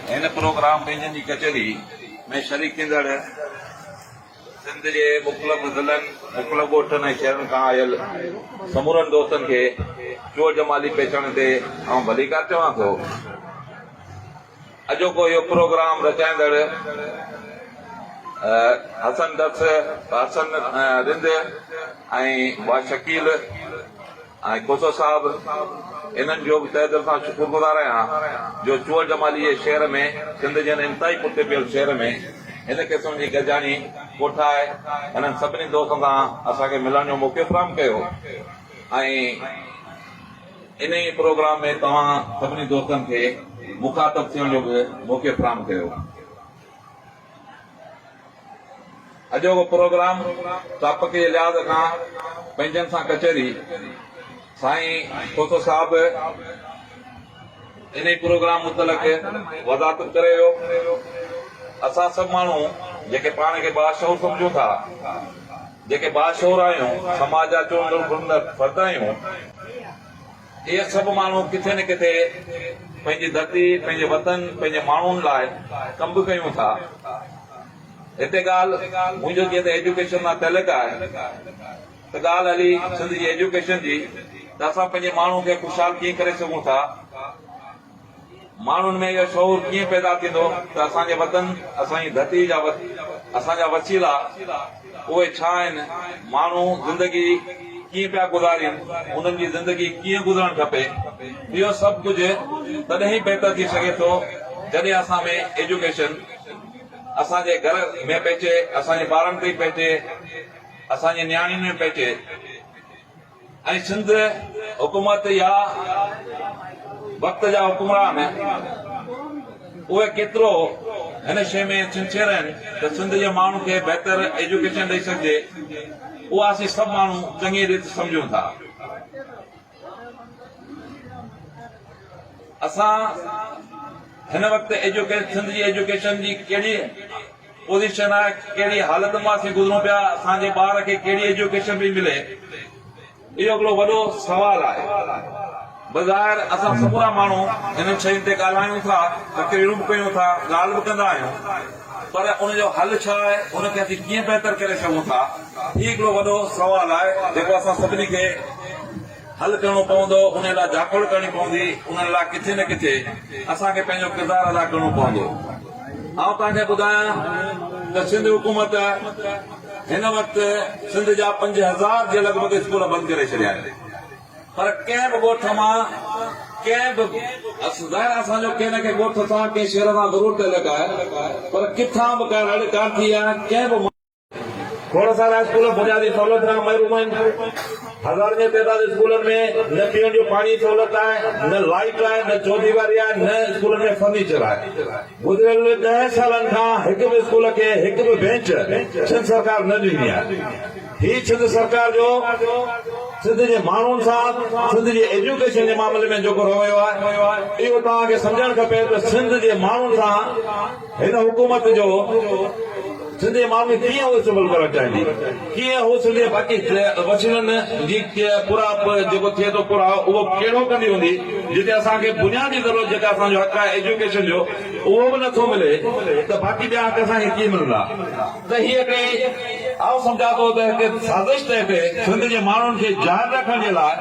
هن پروگرام ٻيجن جي ڪچهري ۾ شريڪ ٿيندڙ سنڌ جي مختلف ضلعن، مختلف ڳوٺن ۽ شهرن کان آيل سمورن دوستن کي چور جمالي پيچڻ تي آئون ڀليڪار چوان ٿو. اڄوڪو اهو پروگرام رچائيندڙ حسن درس، حسن رند ۽ ڀاء شڪيل، آء کوسو صاحب انهن جو به تهه دل سان شڪر گذار آهيان جو چوهل جمالي جي شعر ۾ سنڌ جي هن انتهائي پٺتي پيل شهر ۾ هن قسم جي گڏجاڻي ڪوٺائي هنن سڀني دوستن سان اسان کي ملڻ جو موقعو فراهم ڪيو ۽ انهي پروگرام ۾ توهان سڀني دوستن کي مخاطب ٿيڻ جو به موقعو فراهم ڪيو. اڄوڪو پروگرام ٽاپڪ جي لحاظ کان پنهنجن سان ڪچهري سائين کوسو صاحب انهي پروگرام متعلق وضاحت ڪري ويو اسان سڀ ماڻهو جيڪي پاڻ کي باشعور سمجهون ٿا جيڪي باشعور آهيون سماج جا چونڊندڙ فرد آهيون اهي سڀ ماڻهو ڪٿي نه ڪٿي پنهنجي ڌرتي، پنهنجي وطن، پنهنجي ماڻهن لاء ڪم به ڪيون ٿا. هتي ڳالهه منهنجو جيئن ته ايجوڪيشن سان تعلق آهي ته ڳالهه هلي سنڌ جي ايجوڪيشن جي ته اسان پنهنجي ماڻهن کي خوشحال ڪيئن ڪري سگهون ٿا. ماڻهن ۾ اهو شعور ڪيئن پيدا ٿيندو ته اسان جي وطن، اسان جي ڌرتي جا اسان جا وسيلا اهي ڇا آهن، ماڻهو زندگي ڪيئن پيا گذارين، انهن جي زندگي ڪيئن گذرڻ کپي، اهو سڀ ڪجهه تڏهن ئي بهتر ٿي سگهي ٿو جڏهن اسان ۾ ايجوڪيشن اسان جي گهر ۾ پهچي، اسان جي ٻارن تائين پهچي، اسان جي نياڻين ۾ پهچي. ۽ سنڌ حڪومت يا وقت جا حڪمران اهي ڪيترو هن شيء ۾ سنسيئر آهن ته سنڌ جي ماڻهن کي بهتر ايجوڪيشن ڏئي سگهجي اها اسين سڀ ماڻهو چڱي ريت سمجهون ٿا. اسان هن وقت سنڌ جي ايجوڪيشن جي ڪهڙي پوزيشن آهي ڪهڙي حالت مان اسين گذرون پيا اسان جي ٻار کي ڪهڙي ايجوڪيشن پئي ملي اهو هڪڙو وڏو سوال آهي بظاهر اسان سمورا ماڻهو انهن شين تي ڳالهايون ٿا تقريرون به ڪيون ٿا ڳالهه به ڪندا آهيون پر ان جو حل ڇا آهي ان کي اسين ڪيئن بهتر ڪري سگهون ٿا هي هڪڙو وڏو سوال آهي جيڪو اسان سڀني کي حل ڪرڻو پوندو انهي لاء جاکوڙ ڪرڻي پوندي انهن لاء ڪٿي نه ڪٿي اسان کي پنهنجو ڪردار ادا ڪرڻو پوندو آئون توهان کي ٻڌايان ته سنڌ حڪومت هن وقت سنڌ جا پنج هزار جي لڳ ڀڳ اسڪول بند ڪري ڇڏيا آهن پر ڪنهن به ڳوٺ مان ڪنهن به ظاهر اسان جو ڪنهن نه ڪنهن ڳوٺ سان ڪنهن شهر سان ضرور تعلق آهي پر ڪٿان به ڪا رڙ ڪانه ٿي آهي ڪنهن به کوڙ سارا اسڪول بنيادي سهولت کان محروم آهن، هزارن جي تعداد اسڪولن ۾ نه پيئڻ جو پاڻي جي سهولت آهي، نه لائيٽ آهي، نه چوديواري آهي، نه اسڪولن ۾ فرنيچر آهي. گذريل ڏهن سالن کان هڪ به اسڪول کي هڪ به بينچ سنڌ سرڪار نه ڏني آهي. هي سنڌ سرڪار جو سنڌ جي ماڻهن سان سنڌ جي ايجوڪيشن جي معاملي ۾ جيڪو رويو آهي اهو توهان کي سمجهڻ کپي ته سنڌ جي ماڻهن سان هن حڪومت جو سنڌي ماڻهن کي ڪيئن هوس ملڪ ڪرڻ چاهيندي؟ ڪيئن هو سنڌي باقي وسيلن جي پورائپ جيڪو ٿئي ٿو پورائو اهو ڪهڙو ڪندي هوندي جتي اسان کي بنيادي ضرورت جيڪا اسان جو حق آهي ايجوڪيشن جو اهو به نٿو ملي ته باقي ٻيا حق اسان کي ڪيئن ملندا؟ تهيء ڪري آئون سمجهان ٿو ته هڪ سازش تحت سنڌ جي ماڻهن کي جان رکڻ جي لاء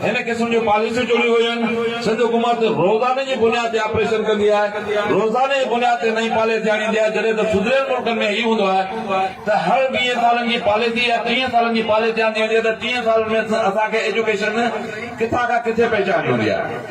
هن قسم جون پاليسيون چونيون ويون. سنڌ حڪومت روزاني جي بنياد تي آپريشن ڪندي آهي، روزاني جي بنياد تي نئين پاليسي آڻيندي آهي جڏهن ته سڌريل ملڪن ۾ هي هوندو آهي ته هر ويهن سالن جي پاليسي يا ٽيهن سالن جي پاليسي آندي ويندي آهي ته ٽيهن سالن ۾ اسان کي ايجوڪيشن ڪٿان کان ڪٿي پهچائڻي هوندي آهي.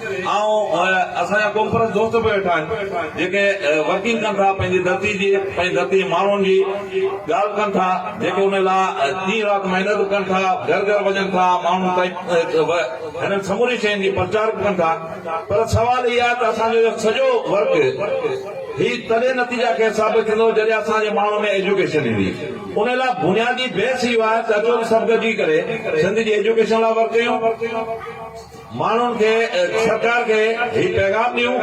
آئون ۽ اسان جا قوم پرست دوست به ويٺا آهن جيڪي ورڪنگ ڪن ٿا پنهنجي ڌرتي جي پنهنجي ڌرتي جي ماڻهن جي ڳالهه ڪن ٿا جيڪي ان لاء ڏينهن رات محنت ڪن ٿا گهر گهر وڃن ٿا ماڻهن تائين هنن سمورين شين جي پرچار ڪن ٿا پر سوال هي آهي ته اسان جو اهو سڄو ورڪ هي تڏهن نتيجا کي ثابت ٿيندو جڏهن اسان جي ماڻهن ۾ ايجوڪيشن ايندي ان لاء بنيادي بحث اهو آهي ته اچو ته سڀ گڏجي ڪري سنڌ جي ايجوڪيشن لاء ورڪ ڪيون ماڻهن کي سرڪار کي هي پيغام ڏيون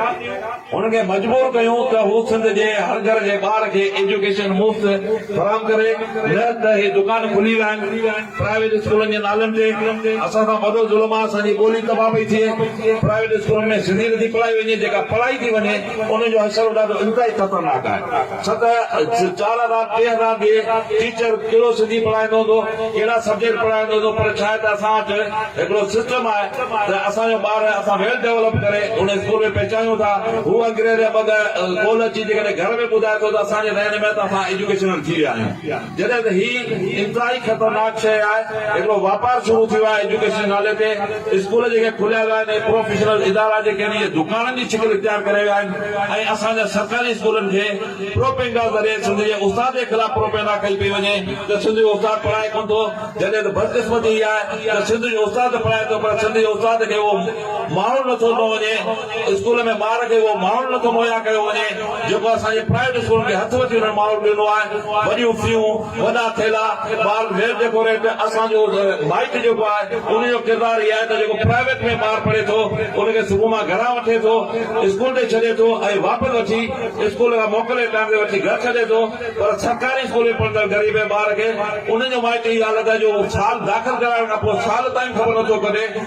انهن کي مجبور ڪيون ته هو سنڌ جي هر گهر جي ٻار کي ايجوڪيشن مفت فراهم ڪري نه ته هي دڪان کلي ويا آهن پرائيويٽ اسڪولن جي نالن تي اسان سان وڏو ظلم آهي اسان جي ٻولي تباهه پئي ٿئي پرائيويٽ اسڪولن ۾ سنڌي نٿي پڙهائي وڃي جيڪا پڙهائي ٿي وڃي ان جو حشر به ڏاڍو انتهائي خطرناڪ آهي. سدا چارا رات ڏينهن رات به ٽيچر ڪهڙو سنڌي پڙهائيندو هوندو ڪهڙا سبجيڪٽ پڙهائيندو هوندو پر ڇا آهي ته اسان وٽ هڪڙو سسٽم آهي ته اسان جو ٻار اسان ويل ڊيولپ ڪري ان اسڪول ۾ پهچايون ٿا هو انگريز يا ٻه ڳالهه ڳول اچي جيڪڏهن گهر ۾ ٻڌائي ٿو ته اسان جي ذهن ۾ آهي ته اسان ايجوڪيشنل ٿي ويا آهيون جڏهن ته هي انتهائي خطرناڪ شيء آهي، هڪڙو واپار شروع ٿيو آهي ايجوڪيشن جي نالي تي، اسڪول جيڪي کليا ويا آهن اهي پروفيشنل ادارا جيڪي آهن اهي دڪانن جي شڪل اختيار ڪري ويا آهن ۽ اسان جا سرڪاري اسڪولن کي پروپينگا ذريعي سنڌ جي استاد جي خلاف پروپينگا ڪئي پئي وڃي ته سنڌ جو استاد پڙهائي ڪونه ٿو جڏهن ته بدقسمتي هي آهي ته سنڌ جو استاد ته پڙهائي ٿو پر سنڌ جي استاد کي اهو ماحول نٿو ڏنو وڃي اسڪول ۾ ٻار کي اهو ماحول نٿو مهيا ڪيو وڃي جيڪو اسان جي پرائيويٽ اسڪولن کي هٿ وٺي انهن ماحول ڏنو آهي وڏيون فيون وڏا ٿيلها ٻارن ويل ڊيڪوريٽ اسان جو مائٽ جيڪو آهي ان جو ڪردار هي آهي ته جيڪو پرائيويٽ ۾ ٻار پڙهي ٿو ان کي صبح مان گهران وٺي ٿو اسڪول تي ڇڏي ٿو ۽ واپس وٺي اسڪول کان موڪلي ٽائيم تي وٺي گهر ڇڏي ٿو پر سرڪاري اسڪول ۾ پڙهندڙ غريب ٻار کي انهن جو مائٽ هي حالت آهي جو سال داخل ڪرائڻ کان پوء سال تائين خبر نٿو ڪڍي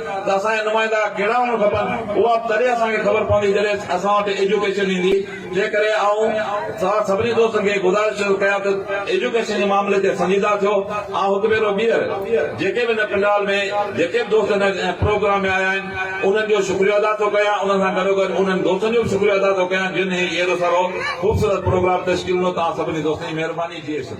ته اسان جا نمائندا ڪهڙا هئڻ کپن، اها به تڏهن اسان کي خبر پوندي جڏهن اسان وٽ ايجوڪيشن ايندي، جنهن ڪري آئون توهان سڀني دوستن کي گذارش ٿو ڪيان ته ايجوڪيشن جي معاملي تي سنجيده ٿيو، آئون هڪ ڀيرو ٻيهر جيڪي به هن پنڊال ۾ جيڪي به دوست هن پروگرام ۾ آيا آهن انهن جو شڪريو ادا ٿو ڪيان، انهن سان گڏو گڏ انهن دوستن جو به شڪريو ادا ٿو ڪيان جن هي اهڙو سارو خوبصورت پروگرام تشڪيل ڏنو، توهان سڀني دوستن جي مهرباني جي اشن.